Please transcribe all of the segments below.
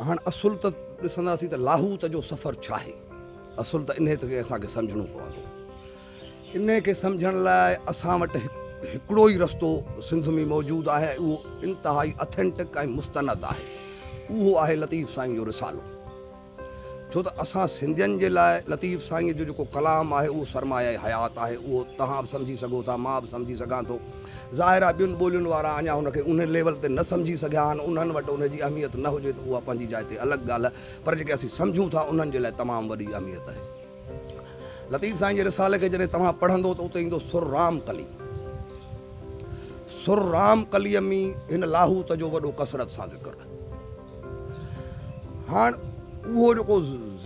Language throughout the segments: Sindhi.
هاڻ اصل ته ڏسنداسين ته لاهوت جو سفر ڇا آهي. اصل ته انهيء کي اسان کي سمجهڻو پوندو. انهيء کي سمجهڻ لاء اسان وٽ هڪڙو ئي رستو سنڌ ۾ موجود آهي ۽ اهو انتهائي Authentic ۽ مستند آهي. اهو آهي لطيف سائين جو رسالو. ڇو ته اسان سنڌين جي لاء لطيف سائينء جو جيڪو ڪلام آهي اهو سرمايه حيات آهي. اهو توهان به سمجهي سگهو ٿا، مان به سمجهي سگهان ٿو. ظاهر آهي ٻين ٻولين وارا اڃا هن کي ان ليول تي نه سمجهي سگهيا آهن، انهن وٽ ان جي اهميت نه هجي ته اها پنهنجي جاء تي الڳ ڳالهه پر جيڪي اسين سمجهون ٿا انهن جي لاء تمام وڏي اهميت آهي. لطيف سائين جي رسالي کي جڏهن توهان پڙهندو ته اتي ايندو سر رام قلي. سر رام قليء ۾ هن لاهوت جو وڏو ڪثرت سان ذڪر آهي. هاڻ اهو جيڪو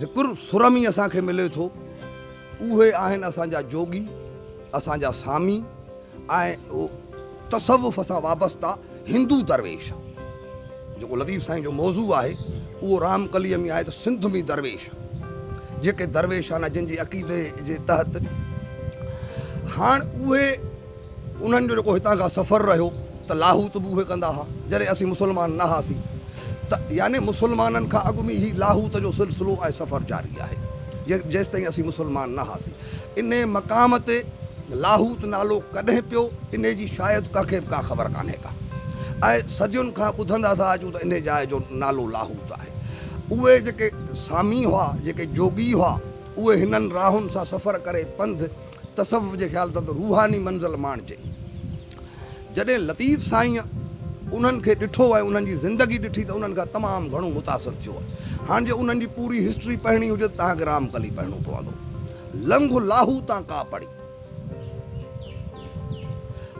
ذڪر سر ۾ اسان کي ملي ٿو اهي آهن اسان جا جوڳي، اسان جا سامي، ۽ تصوف سان وابسته هندو درويش جيڪو لطيف سائين جو موضوع آهي اهو رام ڪليء ۾ آهي ته سنڌ ۾ درويش جيڪي درويش آهن جن جي عقيدي جي تحت هاڻ اهي انهن جو جيڪو هتان کان سفر رهيو ته لاهوت به اهي ڪندا ها جڏهن اسين مسلمان نه هئاسين ته يعني مسلمانن کان اڳ ۾ هي لاهوت جو سلسلو ۽ سفر جاري آهي جيستائين اسين مسلمان نه هئاسين انهيء مقام تي لاهوت نالو ڪڏهن پيو، انهيء جي شايد ڪنهن کي به ڪا خبر ڪانهي ڪا ۽ صدين کان ٻڌندا ٿا اچون ته انهيء جاء جو نالو لاهوت آهي. اهي جيڪي سامي هئا، جيڪي جوڳي هئا، اهي هنن راهن سان سفر ڪري پنڌ، تصوف جي خيال تحت روحاني منزل ماڻجي. جڏهن لطيف سائينء انهن کي ڏٺو ۽ انهن جي زندگي ڏٺي ته انهن کان تمام گهڻو متاثر ٿيو آهي. هاڻ جي انهن جي پوري هسٽري پڙهڻي هجي ته توهان کي رام ڪلي پڙهڻو پوندو. لنگهه لاهو تان ڪا پڙي.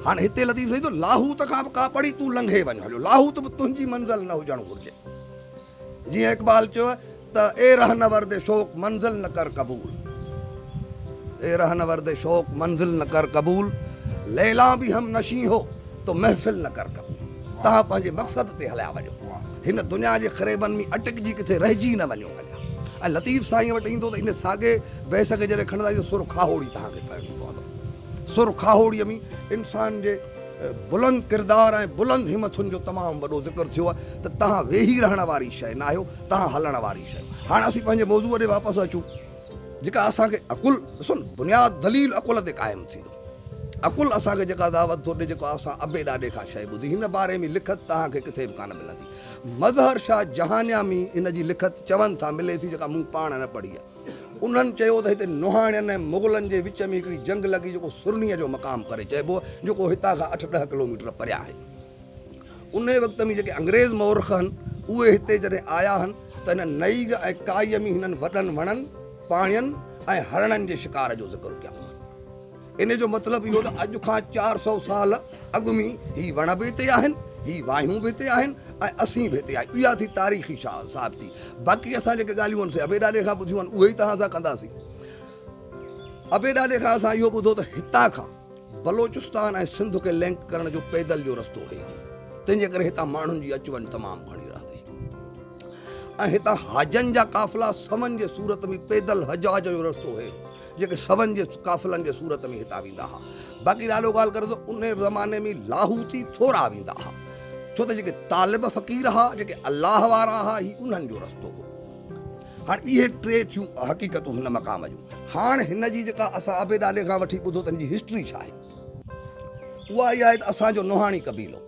هاڻ هتي لطيف سائين ٿو لاهوت کان به ڪا پڙي تون لنگهي وڃ هليو لاهوت به تنهنجي منزل نه هجڻ گهرجي. جيئن اقبال چيو ته اي رهنورد شوق منزل نه ڪر قبول اي رهنورد شوق منزل نه ڪر قبول ليلان به هم نشين هو تو محفل نه ڪر قبول توهان پنهنجي مقصد تي هليا وڃو هن دنيا جي خريبن ۾ اٽڪجي ڪٿي رهجي نه وڃو هليا ۽ لطيف سائين وٽ ايندو ته ان ساڳي بيس کي جڏهن کڻندا آهيون سر کاهوڙي توهان کي پڙهڻي پوندو سر کاهوڙي ۾ انسان جي بلند ڪردار ۽ بلند همٿن جو تمام وڏو ذڪر ٿيو آهي ته تهان ويهي رهڻ واري شيء ناهيو تهان هلڻ واري شيء هاڻ اسين پنهنجي موضوع ڏي واپس اچون جيڪا اسان کي عقل ڏسو نه بنياد دليل عقل تي قائم ٿيندو عقل اسان کي جيڪا دعوت ٿو ڏي جيڪو اسان ابي ڏاڏي کان شيء ٻڌي هن باري ۾ لکت تهان کي ڪٿي به ڪانه ملندي مظهر شاهه جهانيامي ان جي لکت چون ٿا ملي ٿي جيڪا مون پاڻ نه پڙهي آهي انهن چيو ته هتي نوحاڻين ۽ مغلن جي وچ ۾ هڪڙي جنگ لڳي جيڪو سرنيء جو مقام ڪري چئبو جيڪو هتان کان اٺ ڏهه ڪلوميٽر پريان آهي. انهيء وقت ۾ جيڪي انگريز مورخ هن اهي هتي جڏهن آيا هن ته هنن نئيگ ۽ ڪائيء ۾ هنن وڏن وڻن، پاڻين ۽ هرڻن جي شڪار جو ذڪر ڪيائون هن. انهيء جو مطلب اهو ته اڄ کان چار سؤ سال اڳ ۾ هي وڻ به هتي آهن، هي واهيون به هتي آهن ۽ اسين به هتي آهيون. اها ٿي تاريخي ثابتي. باقي اسان جيڪي ڳالهيون هن سي ابي ڏاڏي کان ٻڌيون آهن، اهي ئي توهان سان ڪنداسين. ابي ڏاڏي کان اسان اهو ٻڌو ته هتان کان بلوچستان ۽ سنڌ کي لنڪ ڪرڻ جو پيدل جو رستو هي، تنهن جي ڪري هتان ماڻهن جي اچ وڃ تمام گهڻي رهندي هئي. ۽ هتان حاجن جا قافلا سون جي صورت ۾ پيدل حجاج جو رستو هيو جيڪي سون جي قافلن جي صورت ۾ هتان ويندا ها باقي ڏاڏو ڳالهه ڪري ٿو ان زماني ۾ لاهوتي ٿورا ويندا ها ڇو ته جيڪي طالب فقير ها جيڪي الله وارا ها هي انهن جو رستو هو هاڻ اهي ٽي ٿيون حقيقتون هن مقام جون هاڻ هن جي جيڪا اسان ابي ڏاڏي کان وٺي ٻڌو تن جي هسٽري ڇا آهي اها اها آهي ته اسانجو نوحاڻي قبيلو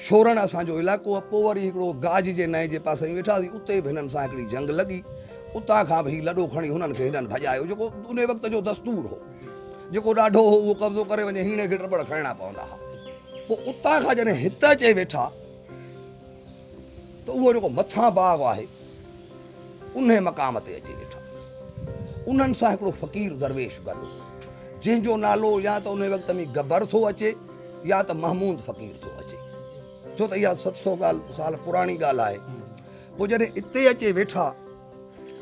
سورڻ اسان جو علائقو هو. پوء وري هڪڙو گاج جي نئين جي پاسي وڃي ويٺاسين. اتي به هنن سان هڪڙي جنگ لڳي. اتان کان به هي لڏو کڻي هنن کي هنن ڀڄايو، جيڪو انهي وقت جو دستور هو. جيڪو ڏاڍو هو، اهو قبضو ڪري وڃي هيڻي کي ٽٻڙ کڻڻا پوندا ها. پوء اتان کان جڏهن هت اچي ويٺا ته اهو جيڪو مٿان باغ آهي. انهيء مقام تي اچي ويٺا. انهن سان هڪڙو فقير درويش گڏ هو، جنهن جو نالو يا ته انهيء وقت ۾ گبر ٿو اچي يا ته محمود فقير ٿو اچي، ڇو ته اها ست سؤ سال پراڻي ڳالهه آهي. پوء جڏهن اتي اچي ويٺا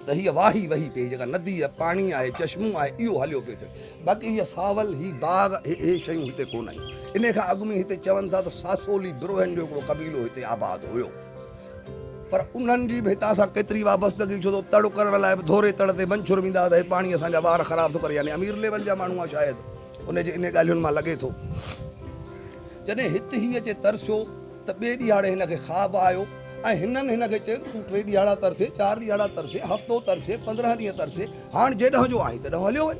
ته هيء واهي وهي پئي، جيڪا ندي آهي، پاڻي آهي، چشمو آهي، اهو هليو پيو ٿي. باقي هيء ساول، هي باغ، اهي شيون هتي ڪونه هيون. انهيء کان اڳ ۾ هتي چون ٿا ته ساسولي بروهين جو هڪڙو قبيلو هتي آباد هيو. پر انهن جي به هتان سان ڪيتري وابستگي ڇو ته تڙ ڪرڻ لاء به ڌوري تڙ تي منڇر ويندا ته هي پاڻي اسان جا وار خراب ٿو ڪري يعني امير ليول جا ماڻهو آ شايد انهي جي انهي ڳالهين مان لڳي ٿو. جڏهن هت هي اچي ترسيو ته ٻي ڏيهاڙي هن کي خواب آيو ۽ هنن هن کي چيو ته تون ٽي ڏيهاڙا ترسين چار ڏيهاڙا ترسين هفتو ترسين پندرهن ڏينهن ترسين هاڻ جيڏهن جو آهين تيڏهن هليو وڃ.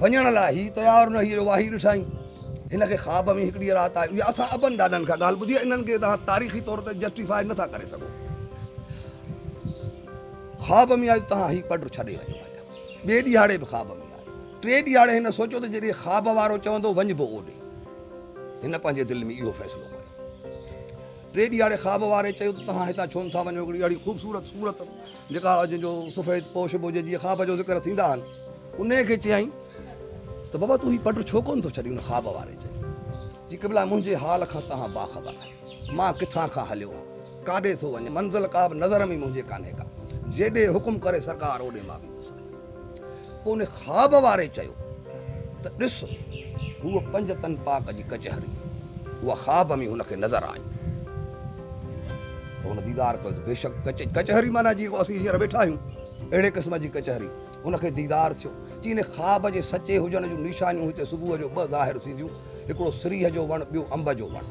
وڃڻ لاء هي تيار نه هئي جو واهي ڏٺائين. هن کي خواب ۾ هڪڙيء رات آئي اها اسان ابن ڏاڏن کان ڳالهه ٻڌي آهي انهن کي توهان تاريخي طور تي جسٽيفائي نٿا ڪري سگهو خواب ۾ آئي ته توهان هي پڊ ڇڏي وڃو ٻئي ڏيهاڙي به خواب ۾ آئي ٽي ڏيهاڙي هن سوچيو ته جيڏي خواب وارو چوندو وڃبو اوڏي هن پنهنجي دل ۾ اهو فيصلو ٽي ڏيهاڙي خواب واري چيو ته توهان هتان ڇو نٿا وڃو هڪڙي اهڙي خوبصورت صورت جيڪا جنهن جو سفيد پوش بوجي جي خواب جو ذڪر ٿيندا آهن انهيء کي چيائين ته بابا تون هي پڊ ڇو ڪونه ٿو ڇڏين؟ ان خواب واري چيو، جي قبلا منهنجي حال کان توهان باخبر آهيو، مان ڪٿان کان هليو هان، ڪاڏي ٿو وڃان، منزل ڪابه نظر ۾ منهنجي ڪانهي ڪا، جيڏي حڪم ڪري سرڪار اوڏي مان ويندس آهيان. پوء ان خواب واري چيو ته ڏس هوء پنج تن پاڪ جي ڪچهري، اها خواب ۾ هن کي نظر آئي ته هن ديدار ڪيو ته بيشڪ ڪچهري معنيٰ جيئن ڪو اسين هينئر ويٺا آهيون اهڙي قسم جي ڪچهري، هن کي ديدار ٿيو. چيني خواب جي سچي هجڻ جون نشانيون هتي صبح جو ٻه ظاهر ٿينديون، هڪڙو سريهه جو وڻ، ٻيو انب جو وڻ.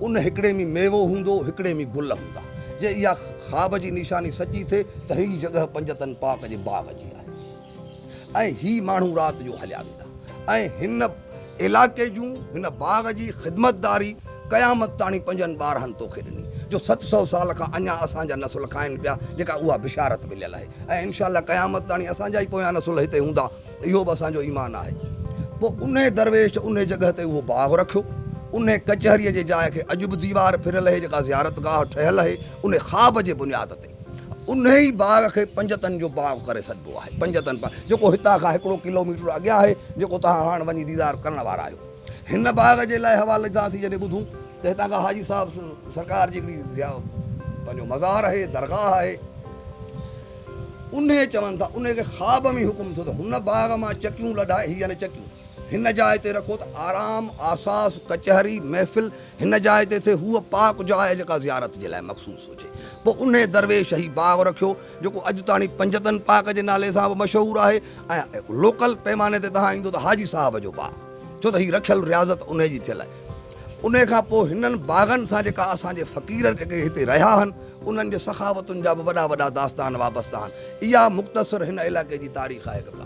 ان هڪڙي ۾ ميوو هوندو، هڪڙي ۾ گل هوندا. جي اها خواب جي نشاني سچي ٿئي ته هيء جڳهه پنجتن پاڪ جي باغ جي آهي ۽ هي ماڻهو رات جو هليا ويندا ۽ هن علائقي جون هن باغ جي خدمتداري قيامت تاڻي پنهنجن ٻارهن توکي ڏني جو ست سؤ سال کان اڃان اسان جا نسل کائن پيا جيڪا اها بشارت مليل آهي ۽ انشاء الله قيامت تاڻي اسان جا ئي پويان نسل هتي هوندا اهو به اسان جو ايمان آهي پوء انهي درويش انهي جڳهه تي اهو باغ رکيو انهي ڪچهري جي جاء کي اڄ به ديوار ڦريل اهي جيڪا زيارت گاهه ٺهيل اهي انهي خواب جي بنياد تي. انهيء باغ کي پنجتن جو باغ ڪري سڏبو آهي. پنجتن باغ جيڪو هتان کان هڪڙو ڪلو ميٽر اڳيان آهي، جيڪو توهان هاڻ وڃي ديدار ڪرڻ وارا آهيو. هن باغ جي لاء حوالي جان اسين جڏهن ٻڌون ته هتان کان حاجي صاحب سرڪار جي هڪڙي پنهنجو مزار آهي، درگاهه آهي. انهيء چون ٿا، انهيء کي خواب ۾ ئي حڪم ٿيو ته هن باغ مان چڪيون لڏائي، هي يعني چڪيون، هن جاء تي رکو ته آرام، آساس، ڪچهري، محفل، هن جاء تي ٿئي هوء پاڪ جاء جيڪا زيارت جي لاء مخصوص هجي. پوء انهيء درويش هي باغ رکيو، جيڪو اڄ تاڻي پنجتن پاڪ جي نالي سان به مشهور آهي ۽ لوڪل پيماني تي توهان ايندو ته حاجي صاحب جو باغ، ڇو ته هي رکيل رياضت انهيء جي ٿيل آهي. انهيء کان پوء هنن باغن سان جيڪا اسان جي فقير جيڪي هتي رهيا آهن، انهن جي سخاوتن جا به وڏا وڏا داستان وابسته آهن. اها مختصر هن علائقي جي تاريخ آهي قبلا.